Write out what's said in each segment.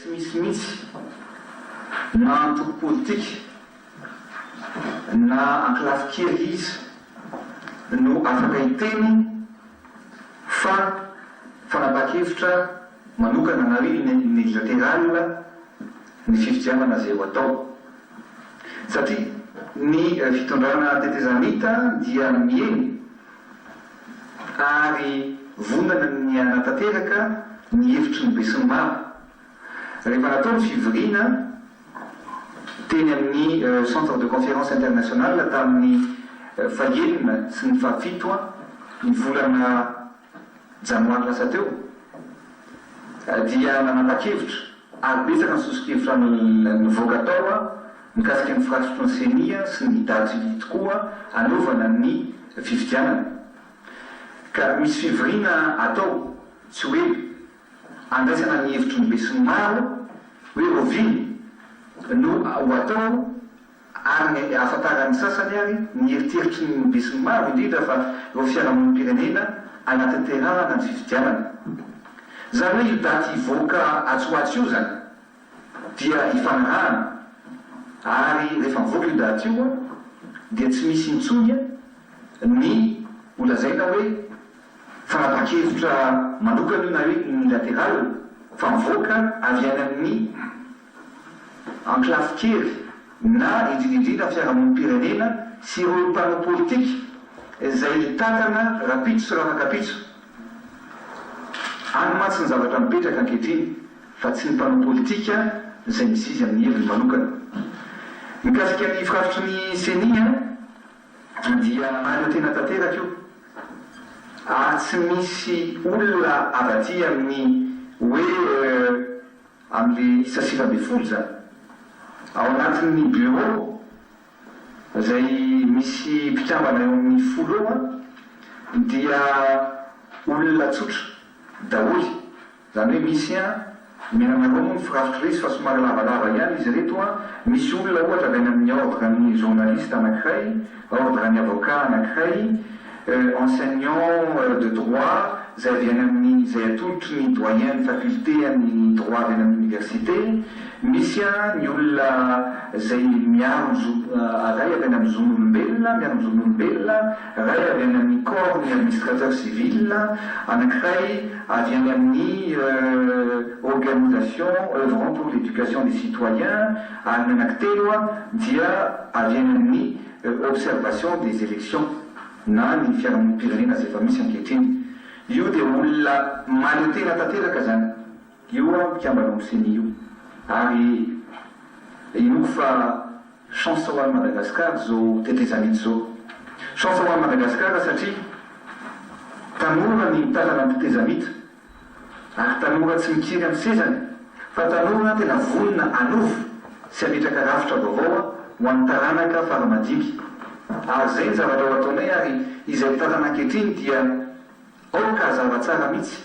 Tsy misy mihitsy na antoko politika na ankolafy kely iza no afaka hiteny fa fanapahan-kevitra manokana na hoe unilateral ny fifidianana izay ho atao satria ny fitondrana tetezamita dia miely ary vonona ny hanatanteraka ny hevitry ny besinimaro rehefa natao ny fivoriana teny amin'ny Centre de Conférence International tamin'ny fahenina sy ny fahafito ny volana janoary lasa teo dia nanapa-kevitra ary betsaka ny sosokevitra nivoaka tao mikasika ny firaisitro ny ceni sy ny daty tokoa anaovana ny fifidianana ka misy fivoriana atao tsy ho ela handraisana ny hevitry ny besinimaro hoe ovina no ho atao Ary ny ahafantaran'ny sasany ary ny eritreritry ny besinimaro indrindra fa eo fiarahamonim-pirenena anatanterahana ny fifidianana. Izany hoe io daty hivoaka atsy ho atsy io izany dia ifanarahana ary rehefa mivoaka io daty io dia tsy misy intsony ny ho lazaina hoe fanapahan-kevitra manokana io na hoe unilateral fa mivoaka avy any amin'ny Ankolafy kely na indrindra indrindra ny fiarahamonim-pirenena sy ireo mpanao politika izay hitantana rapitso sy rafakapitso. Any mantsy ny zavatra mipetraka ankehitriny fa tsy ny mpanao politika izay mizizy amin'ny heviny manokana. Mikasika ny firafitry ny ceni dia maneho tena tanteraka io ary tsy misy olona avy aty amin'ny hoe Amin'ny isa sivy ambin'ny folo izany. Ao anatin'ny Bureau, izay misy mpikambana eo amin'ny folo eo an, dia olona tsotra daholo. Izany hoe misy an, omena anareo moa ny firafitry ireto fa somary lavalava ihany izy ireto an, misy olona ohatra avy any amin'ny ordre-n'ny journaliste anankiray, Ordre ny avocat anankiray, enseignants de droit izay avy any amin'ny izay atolotry ny doyen ny faculté an'ny droit avy any amin'ny université, misy ny olona izay miaro ny zo ray avy any amin'ny zon'olombelona, miaro ny zon'olombelona, ray avy any amin'ny corps ny administrateur civil, anankiray avy any amin'ny organisation oeuvrant pour l'éducation des citoyens, Alina anankitelo dia arianan'ny observation des elections na ny fiarahamonim-pirenena izay efa misy ankehitriny. Io dia olona mahaleo tena tanteraka izany io mpikambana ao amin'ny ceni io ary inoako fa chance ho an'i Madagascar izao tetezamita izao. Chance ho an'i Madagascar satria tanora ny mitantana ny tetezamita Ary tanora tsy mikiry amin'ny sezany fa tanora tena vonona hanovo sy hametraka rafitra vaovao ho an'ny taranaka fara madinika. Ary izay ny zavatra ho ataonay ary izay mitantana ankehitriny dia aoka hazava tsara mihitsy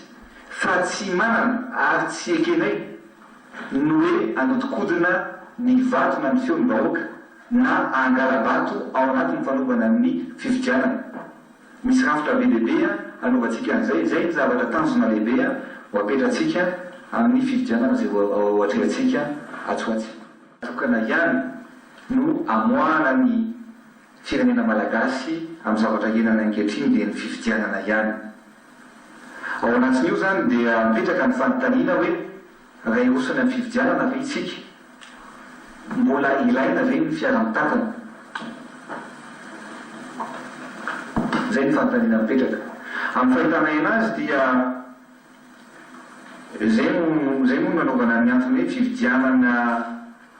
fa tsy manana ary tsy ekenay ny hoe hanodinkodina ny vato na ny feon'ny vahoaka na hangala-bato ao anatin'ny fanovana ny fifidianana. Misy rafitra be dia be hanaovantsika an'izay. Izay ny zavatra tanjona lehibe ho apetratsika amin'ny fifidianana izay ho atrehantsika atsy ho atsy. Tokana ihany no amoahana ny firenena malagasy amin'ny zavatra ianana ankehitriny dia ny fifidianana ihany. Ao anatin'io izany dia mipetraka ny fanontaniana hoe. Raha hiroso any amin'ny fifidianana ve isika? Mbola ilaina ve ny fiara mitantana? Izay ny fanontaniana mipetraka. Amin'ny fahitanay anazy dia izay no izay moa no nanaovana ny antony hoe fifidianana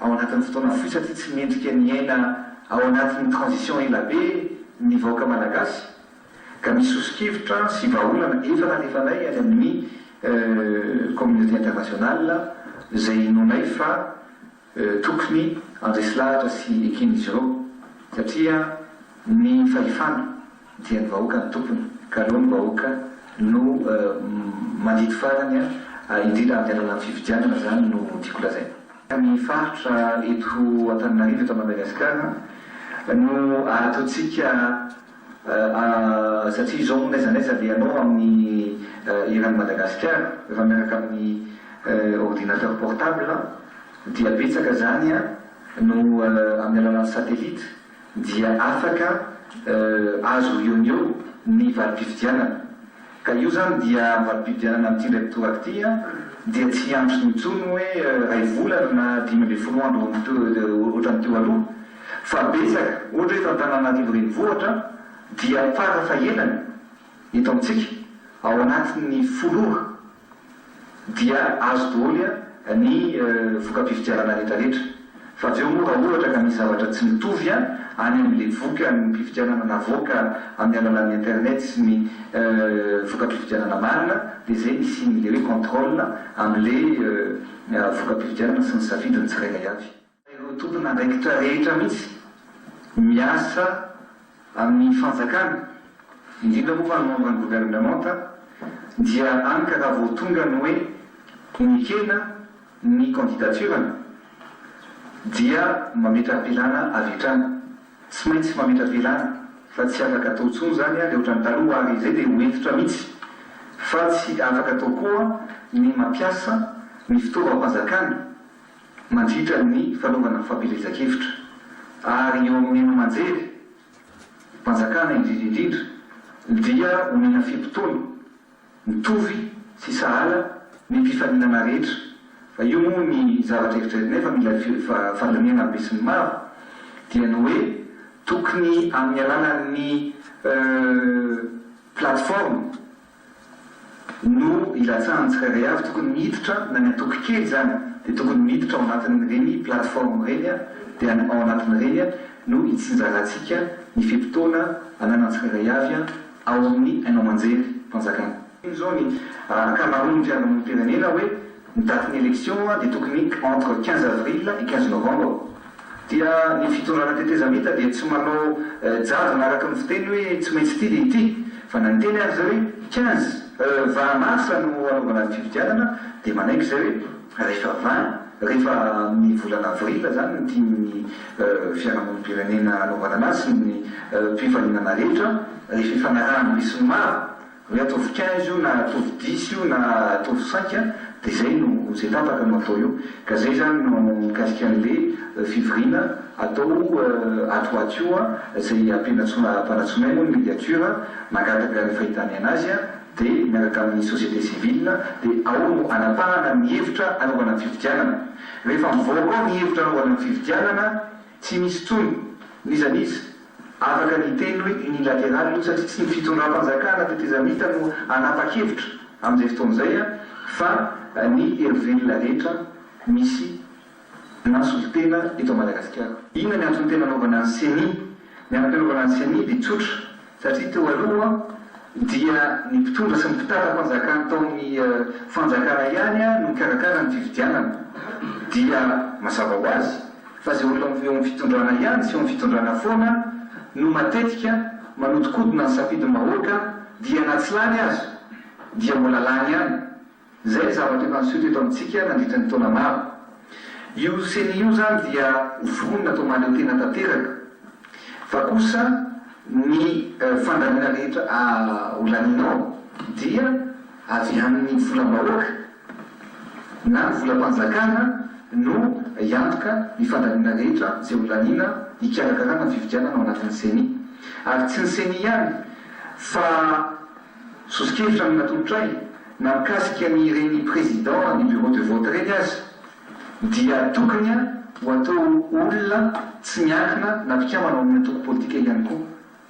ao anatin'ny fotoana fohy satria tsy mendrika ny hiaina ao anatin'ny transition ela be ny vahoaka malagasy. Ka misy soso-kevitra sy vahaolana efa nalefanay any amin'ny communauté internationale izay inoanay fa tokony handresy lahatra sy eken'izy ireo satria ny fahefana dia ny vahoaka no tompony ka aleo ny vahoaka no mandidy farany indrindra amin'ny alalan'ny fifidianana izany no tiako lazaina. Ny faritra eto Antananarivo, eto Madagasikara no ahatontsika satria izao moa n'aiza n'aiza dia ianao amin'ny eran'i Madagasikara efa miaraka amin'ny ordinateur portable dia betsaka izany no amin'ny alalan'ny satellite dia afaka azo eo no eo ny valim-pifidianana Ka io zany dia mba mpividianana an'ity ndray mpitoraka ity an, dia tsy hiantso intsony hoe ray volana na dimy ambin'ny folo andro ohatran'ny teo aloha fa betsaka, ohatra hoe eto Antananarivo renivohitra dia fara fahelany eto amintsika ao anatin'ny folo ora. dia azo doholy ny voka-pifidianana retraretra. Fa avy eo moa raha ohatra ka misy zavatra tsy mitovy any amin'ilay voka-pifidianana navoaka amin'ny alalan'ny internet sy ny voka-pifidianana marina dia izay ny hisian'ilay hoe contrôle amin'ilay voka-pifidianana sy ny safidin'ny tsirairay avy. Ireo tompon'andraikitra rehetra mihitsy miasa amin'ny fanjakana, indrindra moa fa ny membre ny gouvernementa, dia any ka raha vao tonga ny hoe nekena ny candidature-ny dia mametra-pilana avy hatrany. Tsy maintsy mametra-pilana fa tsy afaka atao intsony izany dia ohatran'ny taloha ary izay dia ho hentitra mihitsy fa tsy afaka atao koa ny mampiasa ny fitaovam-panjakana. mandritra ny fanaovana fampielezan-kevitra, ary eo amin'ny haino aman-jery mpanjakana indrindra indrindra, dia omena fe-potoana mitovy sy sahala ny mpifaninana rehetra, fa io moa ny zavatra eritreritinay fa mila fandinihana ny besin'ny maro, dia ny hoe tokony amin'ny alalan'ny plateforme, no ilatsahan'ny tsirairay avy, tokony miditra na ny antoko kely izany dia tokony miditra ao anatin'ireny plateforme ireny dia any ao anatin'ireny no hitsinjarantsika ny fe-potoana ananan'ny tsirairay avy ao amin'ny haino aman-jery mpanjakana. Iny izao ny ankamaroan'ny fiarahamonim-pirenena hoe Ny date ny election dia tokony entre quinze avril et quinze novembre dia ny fitondrana tetezamita dia tsy manao jadona araka ny fiteny hoe tsy maintsy ity dia ity fa na niteny ary zay hoe quinze vingt mars no hanaovana fifidianana dia manaiky zay hoe rehefa vingt rehefa amin'ny volana avril zany ny tian'ny fiarahamonim-pirenena hanaovana anazy sy ny mpifaninana rehetra rehefa ifanarahan'ny besinimaro Ny atovy quinze io na atovy dix io na atovy cinq dia izay no izay tapaka no atao eo ka izay izany no mikasika an'le fivoriana atao ato ho ato io a, izay ampianatsoam-panatsoinay moa ny mediature mangataka ny fahitany anazy a dia miaraka amin'ny société civile dia ao no anapahana ny hevitra anaovana ny fifidianana. Rehefa mivoaka ao ny hevitra anaovana ny fifidianana tsy misy intsony n'iza n'iza. Afaka ny hiteny hoe unilateral io satria tsy ny fitondram-panjakana tetezamita no hanapa-kevitra amin'izay fotoana izay fa ny herivelona rehetra misy na solontena eto Madagasikara. Inona ny antony tena anaovana ny ceni? Ny antony anaovana ny ceni dia tsotra satria teo aloha dia ny mpitondra sy ny mpitantam-panjakana tao amin'ny fanjakana ihany no nikarakara ny fifidianana dia mazava ho azy fa izay olona eo amin'ny fitondrana ihany sy eo amin'ny fitondrana foana no matetika manodikodina ny safidim-bahoaka dia na tsy lany aza dia mbola lany ihany. Izay ny zavatra efa niseho teto amintsika nandritra ny taona maro. Io ceni io izany dia ho vonona atao mahaleo tena tanteraka fa kosa ny fandaniana rehetra ho lanianao dia avy amin'ny volam-bahoaka. Na ny volam-panjakana no hiantoka ny fandaniana rehetra izay ho laniana hikarakarana ny fifidianana ao anatin'ny Ceni. Ary tsy ny Ceni ihany fa soso-kevitra no natolotray na mikasika ny ireny président ny bureau de vote ireny aza dia tokony ho atao olona tsy miankina na mpikambana ao amin'ny antoko politika ihany koa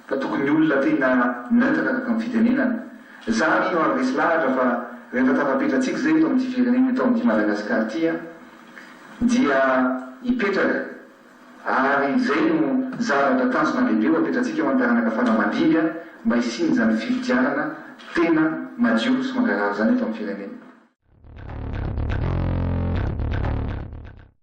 Ka tokony olona tena neutre araka ny fitenenana. Za anie no ary resy lahatra fa rehefa tafapetratsika zay eto amin'ity firenena eto amin'ity Madagascar ty an, dia hipetraka ary zay no zavatra tanjona lehibe ho apetratsika ho an'ny taranaka fara aman-dimby an, mba hisian'izany fifidianana tena madio sy mangarahara zany eto amin'ny firenena.